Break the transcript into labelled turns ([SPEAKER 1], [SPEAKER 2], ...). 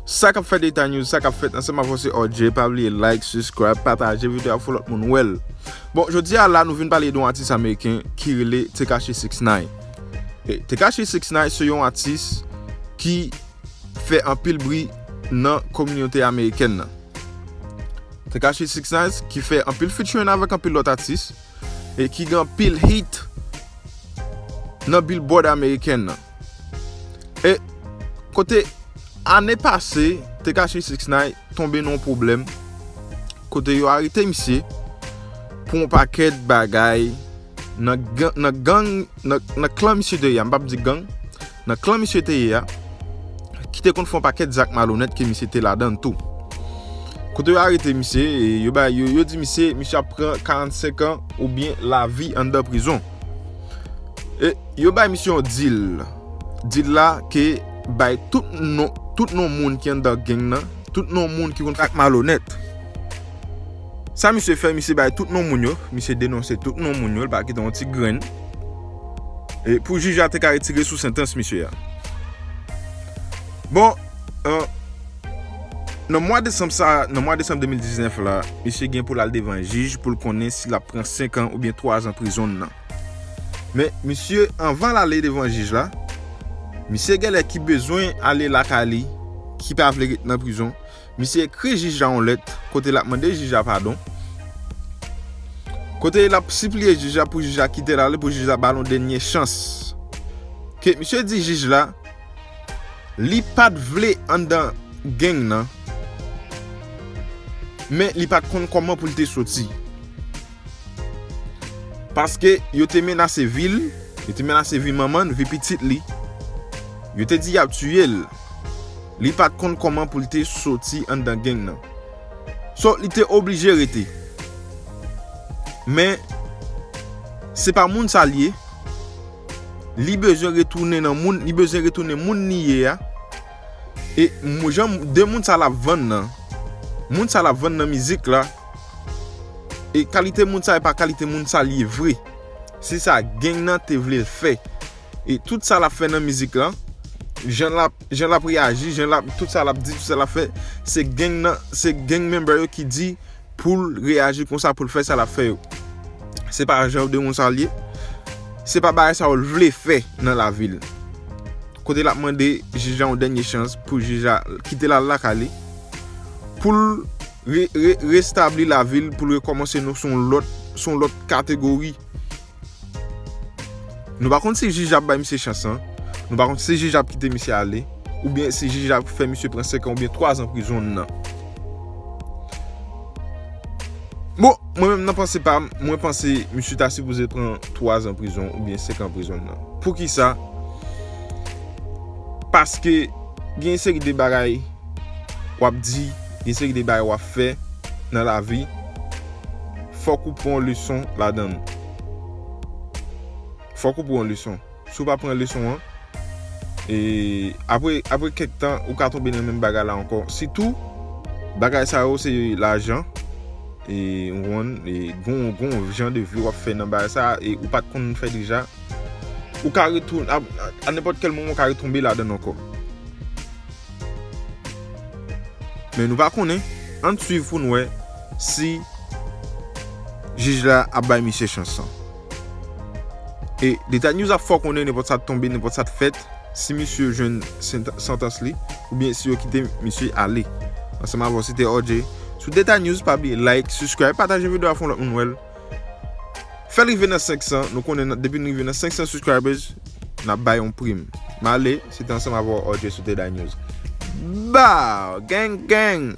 [SPEAKER 1] Sa kap fèt eta news, sa kap fèt nan Sèm Avòse RJ, pa bliye like, subscribe, pataje videyo a pou lòt moun wèl. Bon, jodi a la nou vin pale de yon atis ameriken ki rele Tekashi 69. Tekashi 69 se yon atis ki fè anpil bri nan kominote ameriken nan. Tekashi 69 ki fè anpil featuring avèk anpil lòt atis e ki gen anpil hit nan billboard ameriken nan. E kote ane pase Tekashi 6 9 tonbe nan yon pwoblèm kote yo arete misye pou yon pakèt bagay nan gang nan klan misye te ya, m pap di gang nan klan misye te ya ki te konn fè yon pakèt zak malonèt ke misye te ladan l tou. Kote yo arete misye e yo bay yo di misye misye ap pran 45 an oubyen lavi anndan prizon. E Yo bay misye yon deal. Deal la ke bay tout non tout non moun ki anndan gang nan, tout non moun ki konn fè ak malonèt. Sa misye fè, misye bay tout non moun yo, misye denonse tout non moun yo, li pa kite yon ti grenn. E pou jij la te ka retire sou santans misye a. Bon, nan mwa desanm sa, nan mwa desanm 2019 la, misye gen pou l al devan jij pou l konnen si l ap pran 5 an oubyen 3 an prizon nan. Men misye anvan lale devan jij la, misye genlè ki bezwen ale lakay li, ki pa vle ret nan prizon, misye ekri jij la yon lèt kote lap mande jij la padon, kote lap sipliye jij la pou jij la kitel ale, pou jij la bal yon dènye chans. Ke misye di jij la, li pat vle anndan geng nan, men li pat konn kòman poul te soti. Paske yo te menase vi l, yo te menase vi manman l, vi pitit li. Yo te di y ap tiye l. Li pa t konn kòman pou l te soti anndan geng nan. So, li te oblije rete. Men, se pa moun sa l ye. Li bezwen retounen nan moun, li bezwen retounen moun li ye a. E jan 2 moun sa lap vann nan Moun sa lap vann nan mizik la E kalite moun sa e pa kalite moun sa li ye vre Se sa geng nan te vle l fè E tout sa lap fè nan mizik la Jan lap reyaji Tout sa lap di tout sa lap fè Se geng nan Se geng member yo ki di poul reyaji konsa poul fè sa lap fè yo se pa janr de moun sa liye se pa bagay sa ou vle fè nan lavil kote lap mande jij la yon dènye chans pou jij la kite lal la kale poul restabli lavil poul rekomanse nou son lòt son lòt kategori Nou pa konn si jij ap bay misye chans lan, nou pa konn si jij ap kite misye ale, oubyen si jij ap fè misye pran 5 an oubyen 3 zan prizon nan. Bon, mwen menm nan panse pa m, mwen panse misye ta sipoze pran 3 zan prizon oubyen 5 an prizon nan. Poukisa? Paske gen yon seri de bagay w ap di. Gen seri de bagay wap fè nan lavi fòk ou pran yon leson ladann. Fòk ou pran yon leson. Si w pa pran leson an, e apre apre kèk tan ou ka tonbe nan menm bagay la ankò. Sitou bagay sa yo se lajan e ou konprann e gon gon jan de vi wap fè nan bagay sa e ou pat konn fè deja. Ou ka retou a nenpòt kèl moman ou ka retonbe ladann ankò. Men nou pa konnen, ann swiv pou n wè si jij la ap bay misye chans lan. E Deta News ap fè w konnen nenpòt sa t tonbe, nenpòt sa t fèt, si misye jwenn santans li, oubyen si yo kite misye ale. Ansanm avè w se te RJ sou Deta News, pa bliye like, subscribe, pataje videyo a fè yon lòt moun wè l. Fèl rive nan 500 nou konnen nan depi nou rive nan 500 subscribers nap bay yon prim male se te ansanm avèw Orje sou Teda News baww gang gang.